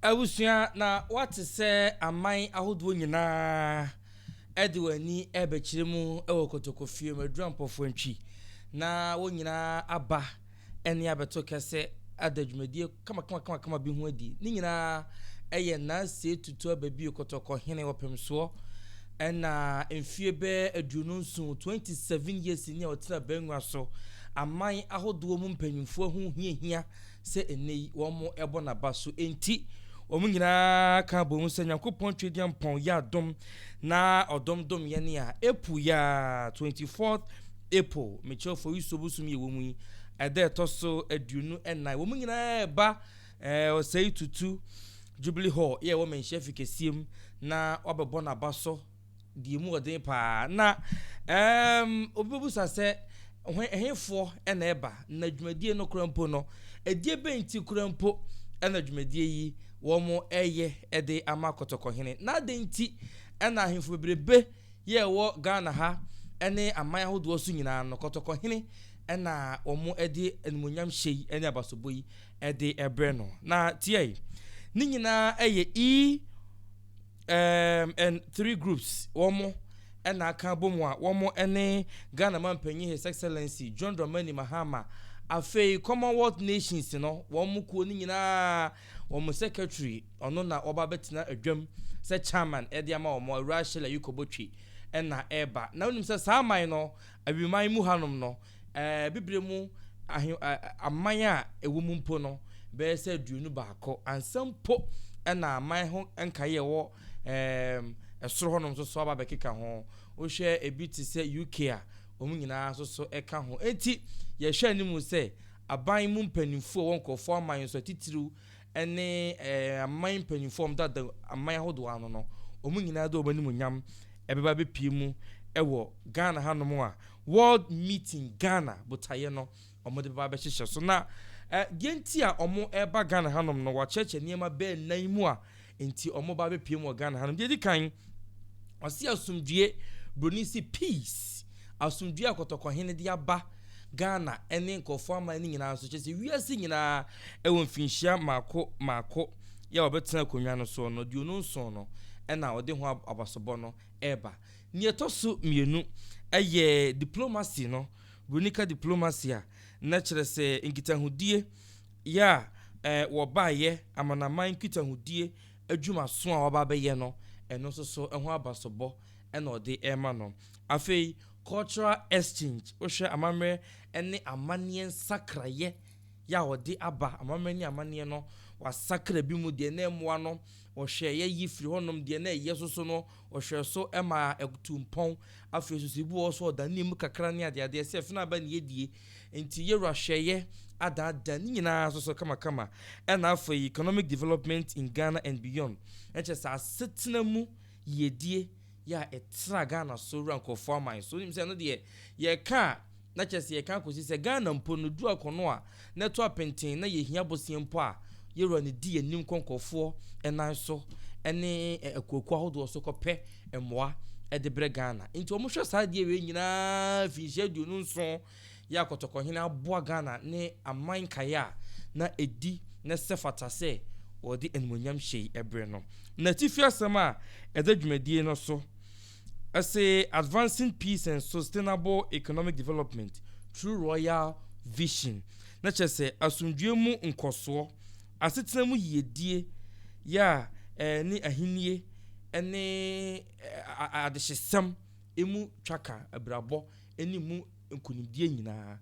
Abusua na woate sɛ aman ahodoɔ nyinaa de wɔn ani ɛbɛkyerɛ mu wɔ kotokofie mu adura mpɔfoɔ ntwi na wɔn nyinaa aba ɛne abɛto kɛse ada dwumadie kamakamakama bi ho adi ne nyinaa ɛyɛ naasee tutu aba bio kotokɔ hene ɔpemsoɔ ɛna mfie bɛɛ aduonu nson 27 years ni a ɔtena bɛnwa so aman ahodoɔ mu mpanyinfoɔ ho hiahia sɛ ɛnnɛ yi wɔbɔ no aba so nti, wɔn nyinaa ka bom sɛ Nyankopɔn Twediampɔn yɛ adom na ɔdom dom yɛn a ɛpu yɛ a 24th April mekyerɛ Foiso bosom yɛ wɔn yi ɛda ɛtɔ so aduonu ɛnan wɔn nyinaa ɛba eh, ɔsɛe tutu Jubilee Hall yɛ wɔ menhyɛ fi kɛseɛ mu na wɔabɛbɔ no aba so Deɛ emu ɔden paa. Na um obibebisa sɛ, Hwan, ɛhefoɔ na ɛba? Na dwumadie no kora mpo no, ɛdeɛ bɛn nti kora mpo na dwumadie yi wɔn ɛyɛ ɛde ama Kɔtɔkɔhene? Na adɛn nti na ahemfo bebrebe yɛ ɛwɔ Ghana ha ɛne aman ahodoɔ so nyinaa no, Kɔtɔkɔhene ɛna wɔn ɛde animuonyam hyɛ yi ɛne abasobɔ yi ɛde ɛbrɛ no? Na tiɛi, ne nyinaa ɛyɛ E. Um and three groups wɔmo ɛna aka abomu a wɔmo ɛne Ghana Mampanyin His Excellency John Dramani Mahama afei Commonwealth Nations no wɔmo kuo no nyinaa wɔmo secretary ɔno na ɔba abɛtena adwam sɛ chairman ɛde ama wɔmo Awuraa Shella Yuko Botwe ɛna ɛba na wonim sɛ saa man no awiman mu hanom no Ɛɛ, bibire mu ahe, ɛ, aman a ɛwɔ mu mpo no, bɛyɛ sɛ aduonu baako ansa mpo na aman ho nkaeɛ a ɛwɔ, ɛɛ, soro hɔnom nso so aba abɛkeka ho. Wohwɛ ebi te sɛ UK a, wɔn nyinaa nso so ka ho. Enti, yɛhwɛ anim sɛ aban mu mpanimfoɔ a wɔwɔ nkurɔfoɔ aman so atitiriw, ne aman mpanyimfo a wɔdada aman ahodoɔ ano no, wɔn nyinaa de wɔn animuonyam ɛbɛba abɛpie mu wɔ Ghana hanom a World Meeting Ghana botaeɛ no wɔde bɛba abɛhyehyɛ so. Na deɛ nti a wɔreba Ghana hanom no, wɔakyerɛkyerɛ nneɛma bɛɛ nnan mu a nti wɔba abɛpie mu wɔ Ghana hanom. Deɛ ɛdi kan, wɔse asomdwie, Buroni se peace. asomdwoe a Kɔtɔkɔhene de aba Ghana ne nkurɔfoɔ aman no nyinaa so, kyerɛ sɛ wiase nyinaa wɔ mfinhyia mmaako mmaako yɛ a wɔbɛtena akonnwa no soɔ no, aduonu nson no na ɔde ho abasobɔ no reba. Nea ɛtɔ so mmienu yɛ diplomacy no, Brunica diplomacy a na kyerɛ sɛ nkitahodie yɛ a eh, wɔbaeɛ amanaman nkitahodie adwumaso a wɔaba abɛyɛ no, ɛno nso so ho abasobɔ na ɔde rema no. Afei, cultural exchange, wohwɛ amammerɛ ne amanneɛ nsakraeɛ yɛ a wɔde aba, amammerɛ ne amanneɛ no, wɔasakra bi mu, deɛ na ɛmmoa no, wɔhwɛ yɛ yi firi hɔnom, deɛ na ɛyɛ soso no, wɔhwɛ so ma ɛtu mpɔn. Afei nso, ebi wɔ hɔ nso a wɔdanee mu kakra ne adeadeɛ, sɛ fena aba ne yɛdie. Enti, yɛ wura hwɛeɛ adaadaa ne nyinaa nso so kamakama. Ɛnna afei, economic development in Ghana and beyond, ɛkyerɛ sɛ asetena mu yiedie. yɛ a ɛtra Ghana so wura nkurɔfoɔ aman so. Wonim sɛ ɛno deɛ yɛka a na kyerɛ sɛ yɛka akɔsi sɛ Ghana mpo no du akɔno a na ɛto apenten na yɛhia bosea mpo a yɛwura no di yɛn anim kɔ nkurɔfoɔ nan so ne akuakuo ahodoɔ so kɔpɛ mmoa de brɛ Ghana. Nti wɔhwɛ saa adeɛ wei nyinaa finhyia aduonu nson Yɛ a Kɔtɔkɔhene aboa Ghana ne aman nkaeɛ a na ɛdi na sɛ fata sɛ wɔde animuonyam hyɛ yi ɛberɛ no. N'atifi asɛm a ɛda dwumadie no so se Advancing Peace and Sustainable Economic Development through Royal Vision no kyerɛ sɛ asomdwoeɛ mu nkɔsoɔ, asetena mu yiedie, yɛ a ɛne ahennie ne adehyesɛm mu twaka abirabɔ. ne mu nkonimdie nyinaa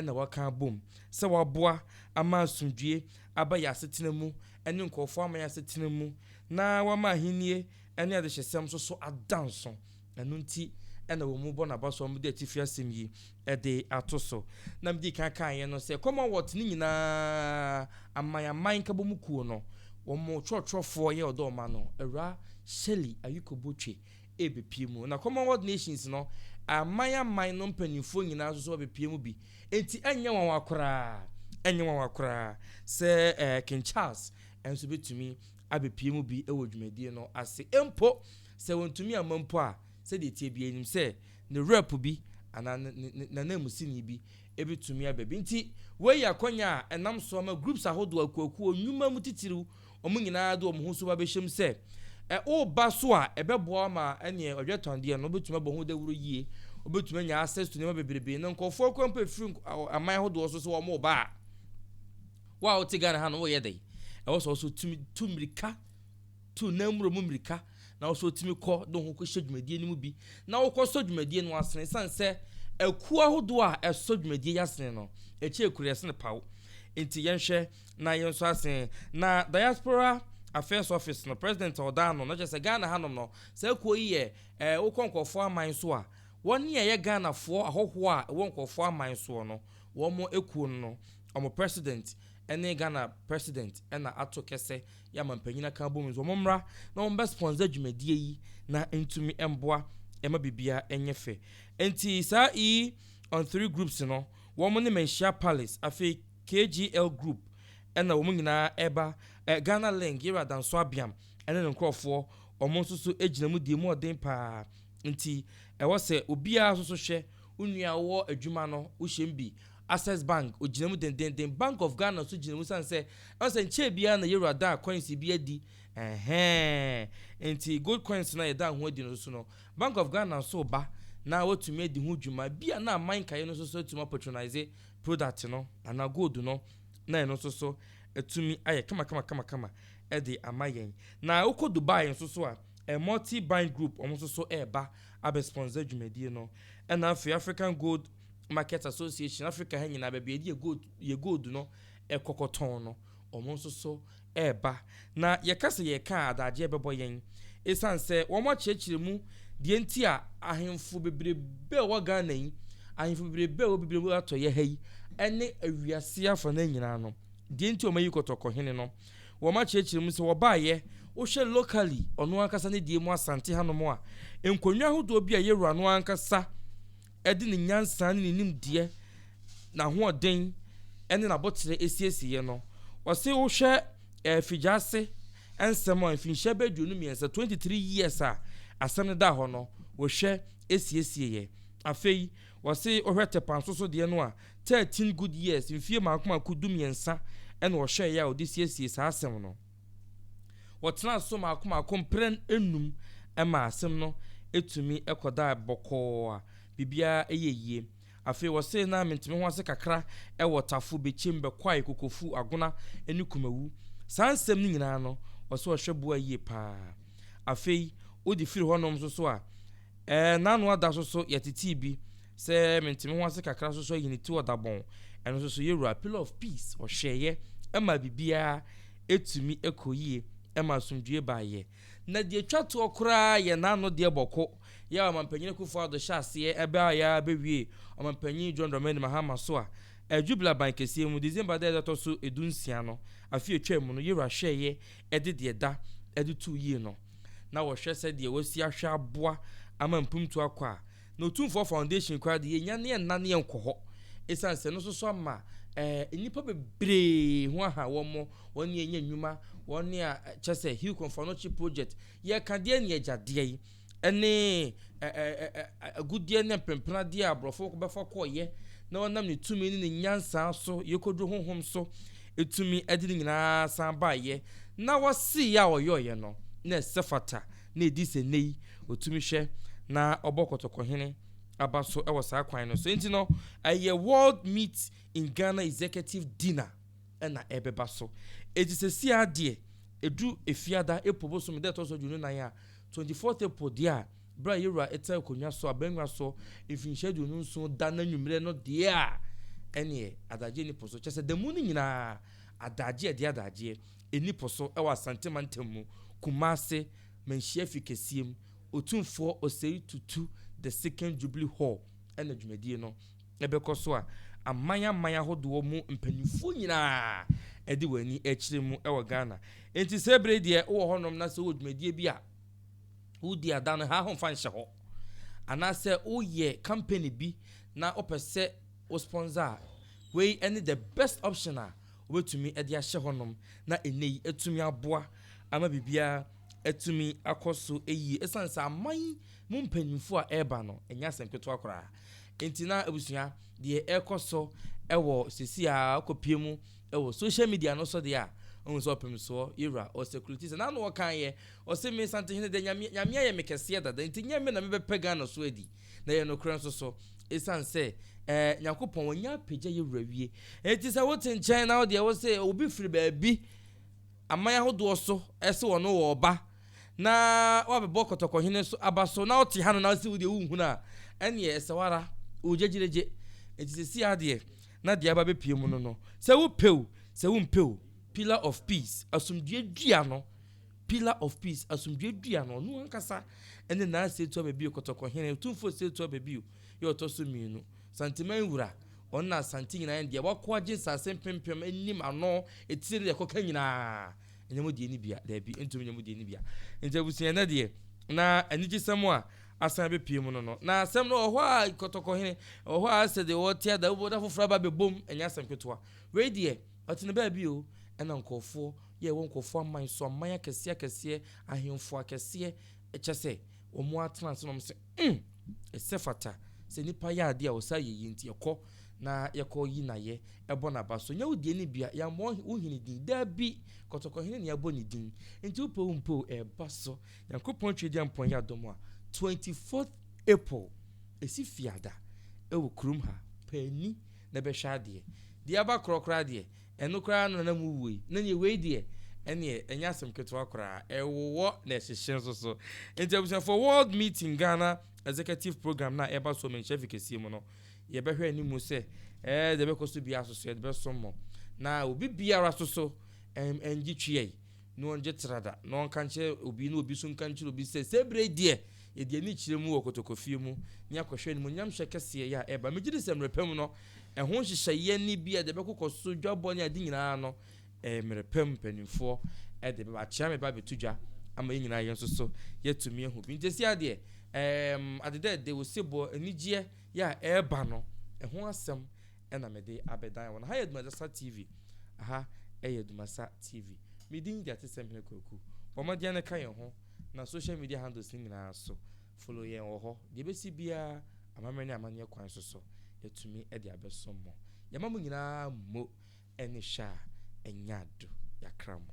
na wɔaka abom sɛ wɔaboa ama asomdwoeɛ aba yɛn asetena mu ne nkurɔfoɔ aman asetena mu na wɔama ahennie ne adehyesɛm nso so ada nso. Ɛno nti na wɔbɔ no aba so a wɔde atifi asɛm yi de ato so. Na medi kan kaeɛ no sɛ Commonwealth no nyinaa aman aman nkabɔmu kuo no wɔn twerɛtwerɛfoɔ yɛ ɔdɔ wɔn ano, Awuraa Shirley Ayikobo Twe rebepue mu. Na Commonwealth Nations no aman aman no mpanimfoɔ nyinaa nso so bɛbɛpue mu bi. Enti ɛnyɛ nwanwa koraa, ɛnyɛ nwanwa koraa sɛ ɛɛ King Charles nso bɛtumi abɛpue mu bi wɔ dwumadie no ase. Mpo sɛ wɔntumi amma mpo a, sɛdeɛ ɛteɛ biara yɛnim sɛ ne rep bi anaa ne ne ne n'ananmusini bi bɛtumi aba bi. Nti wei yɛ akwannya a ɛnam so ama groups ahodoɔ akuakuo nnwuma mu titiriw wɔn nyinaa de wɔn ho nso bɛhyɛ mu sɛ woreba so a, ɛbɛboa ama ɛneɛ ɔdwɛtɔndeɛ no wobɛtumi abɔ ho dawuro yie, wobɛtumi anya access to nneɛma bebrebe na nkurɔfoɔ akura mpo ɛfiri aman ahodoɔ so sɛ wɔn reba a, wo a wote Ghana ha no woyɛ dɛn? Ɛwɔ sɛ ɔso tumi tu mmirika, tu nan mmuro mu mmirika na ɔso tumi kɔ de ho kɔhyɛ dwumadie no mu bi na wokɔ sɔ dwumadie no asene sane sɛ akuo ahodoɔ a ɛsɔ dwumadie yɛ asene no ɛkyɛ kuro yɛsene paw nti yɛnhwɛ Na yɛn nso ase na diaspora affairs office no president a ɔda ano no kyerɛ sɛ Ghana hanom no saa kuo yi yɛ ɛɛ wokɔ nkurɔfoɔ aman so a wɔn a ɛyɛ Ghanafoɔ ahɔhoɔ a ɛwɔ nkurɔfoɔ aman soɔ no wɔn kuo no no wɔn president ne Ghana president na ato kɛsɛ yɛ amanpanyin aka abɔ mu nso wɔn mmra na wɔn bɛ sponsor dwumadie yi na ntumi mboa ɛma bibia ɛnyɛ fɛ nti saa yi on three groups no wɔn ne Manhyia Palace afei KGL group na wɔn nyinaa reba, Ghana Link, Yera Adanso Abiam ne ne nkorɔfoɔ, wɔn nso so gyina mu die mu ɔden paa, nti ɛwɔ sɛ obiara nso so hwɛ, wo nua a wowɔ adwuma no wo hyɛ mu bi, Access Bank ɔgyina mu dendenden, Bank of Ghana nso gyina mu sane sɛ ɛwɔ sɛ nkyɛɛ biara na Yera da coins bi adi, ɛhɛɛɛ, nti gold coins no a yɛda ho adi no nso so no Bank of Ghana nso reba na watumi adi ho dwuma, bi a na aman nkaeɛ no nso so atumi apatronise product no anaa gold no na ɛno nso so atumi ayɛ kamakamakama de ama yɛn. Na wokɔ Dubai nso so a, Multi Buying Group wɔn nso so reba abɛ sponsor dwumadie no. Ɛna afei African Gold Market Association, Africa ha nyinaa baabi a yɛde yɛ gold no kɔ kɔtɔn no, wɔn nso so reba, na yɛka sɛ yɛreka a adagyeɛ bɛbɔ yɛn ɛsiane sɛ wɔakyerɛkyerɛ mu deɛ nti a ahemfo bebrebe a wɔwɔ Ghana yi, ahemfo bebrebe a wɔwɔ Bibire mu atɔeɛ ha yi ne awiase afanan nyinaa no, deɛ nti a wɔayi Kɔtɔkɔ hene no, wɔakyerɛkyerɛ mu sɛ wɔbaeɛ, wohwɛ locally ɔno ankasa ne deɛ mu Asante hanom a, nkonnwa ahodoɔ bi a yɛwura no ankasa, de ne nyansa ne ne nimdeɛ, n'ahoɔden ne n'abotire asiesieɛ no. Ɔse wohwɛ eh, Figyase nsɛm a mfinhyia bɛyɛ aduonu mmiɛnsa, 23 years a asɛm no da hɔ no, wɔhwɛ asiesieɛ. Afei, wɔse wohwɛ Tɛpanso so deɛ no a, 13 good years, mfie mmaako mmaako du mmiɛnsa, ɛna ɔhwɛeɛ a ɔde siesiee saa asɛm no. Wɔtenaa so mmaako mmaako mprɛn nnum maa asɛm no tumi kɔdaa bɔkɔɔ a biribiara yɛɛ yie. Afei wɔse na mentumi ho ase kakra wɔ Tafo, Bekyem, Bɛkwae, Kokofu, Agona ne Kumawu. Saa nsɛm no nyinaa no wɔse ɔhwɛ boa yie pa ara. Afei wode firi hɔnom nso so a, ɛɛ n'ano ada so so yɛtetee bi Sɛ mente me ho ase kakra nso so ayi ne ti ɔdabɔn, ɛno nso so yɛ wura pillar of peace, ɔhwɛeɛ ɛma biribiara ɛtumi ɛkɔ yie, ɛma asomdwoeɛ baeɛ. Na deɛ ɛtwa toɔ koraa yɛ n'ano deɛ bɔko yɛ a Ɔmanpanyin Akuffo Addo hyɛ aseɛ ɛbɛaeɛ ara bɛwie Ɔmanpanyin John Dramani Mahama so a ɛyɛ Jubilee aban kɛseɛ mu December da a ɛtɔ so du nsia no afe a ɛtwaam mu no yɛ wura hwɛeɛ ɛde deɛ ɛda ɛde too yie no na wɔhwɛ sɛdeɛ wɔasi ahwɛ aboa ama mpomtu akɔ a Na Otumfoɔ Foundation koraa de, yɛnnya ne ɛnna ne ɛnkɔ hɔ esiane sɛ ɛno nso so ama eh, nnipa bebree ho aha wɔn mo, wɔn ne yɛnya nnwuma, wɔn ne a kyɛ sɛ Hill Kɔnfanɔkye Project, yɛka deɛ ne agyadeɛ yi, ɛne agudeɛ ne mprempradeɛ a aborɔfo bɛfa kɔɔyɛ na wɔnam ne tumi ne ne nyansaa so, yɛkɔduru honhom so, ɛtumi ɛde ne nyinaa san baayɛ, na wɔsee yɛ a wɔyɔɔyɛ no, na ɛsɛ fata. na edi sɛ nnɛ yi otumi hwɛ na ɔbɔ Kɔtɔkɔhene aba so wɔ saa kwan no so. Enti no, ɛyɛ World Meet in Ghana Executive Dinner na ɛbɛba so. Enti seesei ara deɛ, ɛdu Efiada, April bosome da ɛtɔ so aduonu nan a, 24th April deɛ a, berɛ a Yewura te akonnwa so, abangua so, mfinhyia aduonu nson da no anwummerɛ no deɛ a, ɛnneɛ adagyeɛ nni po so. Kyerɛ sɛ, da mu no nyinaa, adagyeɛ, ɛde adagyeɛ. Ɛnni po so wɔ Asante mantam mu, Kumase, Manhyia Fi Kɛseɛ mu. Otumfoɔ Osei Tutu The Second Jubilee Hall na dwumadie no bɛkɔ so a aman aman ahodoɔ mu mpanimfoɔ nyinaa de wɔn ani rekyerɛ mu wɔ Ghana. Enti saa berɛ yi deɛ wowɔ hɔnom na sɛ wowɔ dwumadie bi a wodi a da no ha ho mfa nhyɛ hɔ. Anaasɛ woyɛ company bi na wopɛ sɛ wo sponsor a, wei ne the best option a wobetumi de ahyɛ hɔnom na nnɛyi atumi aboa ama biribiara atumi akɔ so yie esiane sɛ aman yi mu mpanyimfo a ɛreba no nyɛ asɛm ketewa koraa. Enti na abusua deɛ ɛrekɔ so wɔ sisi a ɔkɔpie mu wɔ social media no so deɛ a ɔhu sɛ ɔpemsoɔ yɛwura ɔsɛkuliti sɛ n'ano ɔkaeɛ ɔse me Santehene deɛ nyame ayɛ me kɛseɛ dada nti nyɛ me na mebɛpɛ Ghana so adi na ɛyɛ nokorɛ nso so, ɛsiane sɛ ɛɛ Nyankopɔn wɔnyɛ apagya yɛ wura wie. Enti sɛ wote nkyɛn na wodeɛ wo se obi firi baabi aman ahodoɔ so ɛse wɔn wɔ ɔba na wabɛbɔ kɔtɔkɔhene so aba so na wote ha no na sɛ wodeɛ wohunu a ɛneɛ ɛsɛ wara wogyegyeregye. Enti sɛ si adeɛ na deɛ aba bɛpie mu no no sɛ wopɛo sɛ wompɛo pillar of peace asomdue dua no Pillar of Peace, Asomdwoe Dua no, ɔno ankasa ne Naa Setwa Babio, Kɔtɔkɔhene, Otumfoɔ Setwa Babio, yɛ ɔtɔ so mmienu. Santeman Wura, ɔno na Asante nyinaa ne dea. Wako agye nsase mpempem anim, ano, etire ne deɛ ɛkɔka nyinaa. Ɛnyɛ mo deɛ no bia. Daabi, ɛntumi nyɛ mo deɛ no bia. Nti abusua, ɛnnɛ deɛ, na anigyesɛm a asan abɛpue mu no no. Na asɛm no, ɛwɔ hɔ a, Kɔtɔkɔhene, ɛwɔ hɔ a, sɛdeɛ wɔte ada, wobɛhu da foforɔ aba abɛbom. Ɛnyɛ asɛm ketewa. Wei deɛ. Ɔte no baabi o, ɛna nkurɔfoɔ yɛ wɔ nkurɔfoɔ aman so, aman akɛseɛ akɛseɛ, ahemfo akɛseɛ, kyɛ sɛ, wɔn ara tena ase na wɔn se, mm! Ɛsɛ fata sɛ nipa yɛ adeɛ a ɔsaa yɛ yie, nti ɛkɔ na yɛkɔ yi nayɛ, ɛbɔ naba so, nyɛ wo deɛ ne bia, yɛammɔ wo hene din, daabi, kɔtɔkɔ hene na yɛabɔ ne din, nti wopɛ wo mpɛ o, ɛba so, Nyankopɔn Twedeɛ Mpɔn yɛ adom a, 24th April, ɛsi fiada, ɛwɔ kurom ha, paani. Na bɛhwɛ adeɛ, deɛ aba korɔ koraa deɛ, ɛno koraa na na mowu ei, na neɛ wei deɛ, ɛneɛ ɛnyɛ asɛm ketewa koraa, ɛwowɔ na ɛhyehye nso so. Nti abusuafoɔ, World Meeting Ghana Executive Programme no a ɛreba so wɔ Manhyia Fi kɛseɛ mu no, yɛbɛhwɛ animu sɛ ɛɛ deɛ ɛbɛkɔ so biara so so yɛde bɛsom mo, na obi biara nso so ɛngye twea yi. na ɔnngye tra da, na ɔnka nkyerɛ obi, na obi so nka nkyerɛ obi sɛ, Saa berɛ yi deɛ, yɛde ani kyerɛ mu wɔ kotokofie mu, na yɛakɔhwɛ animuonyamhyɛ kɛseɛ yi a ɛreba. Megye di sɛ mmerɛ pa mu no, ɛho nhyehyɛeɛ no bi a ɛde bɛkokɔ so, dwabɔ ne ade nyinaa no, ɛyɛ mmerɛ pa mu mpanimfoɔ de bɛba. Akyea meba abɛto dwa ama yɛn nyinaa yɛn nso so yɛatumi ahu bi. Nti seesei deɛ, ɛɛm, adedɛɛdɛ, osebɔ, anigyeɛ yi a ɛreba no, ɛho asɛm na mede abɛdan wɔn. Aha yɛ Dumazasa TV. Aha yɛ Dumasa TV. Me din de Atesemhene Kwaku. Bɔ mmɔden ara na ka yɛn ho na social media handles no nyinaa so. Follow yɛn wɔ hɔ. Deɛ ɛbɛsi biara, amammerɛ ne amanneɛ kwan so so, yɛatumi de abɛso mo. Yɛma mo nyinaa mo ani hwɛ a, ɛnyɛ ado. Yɛakra mo.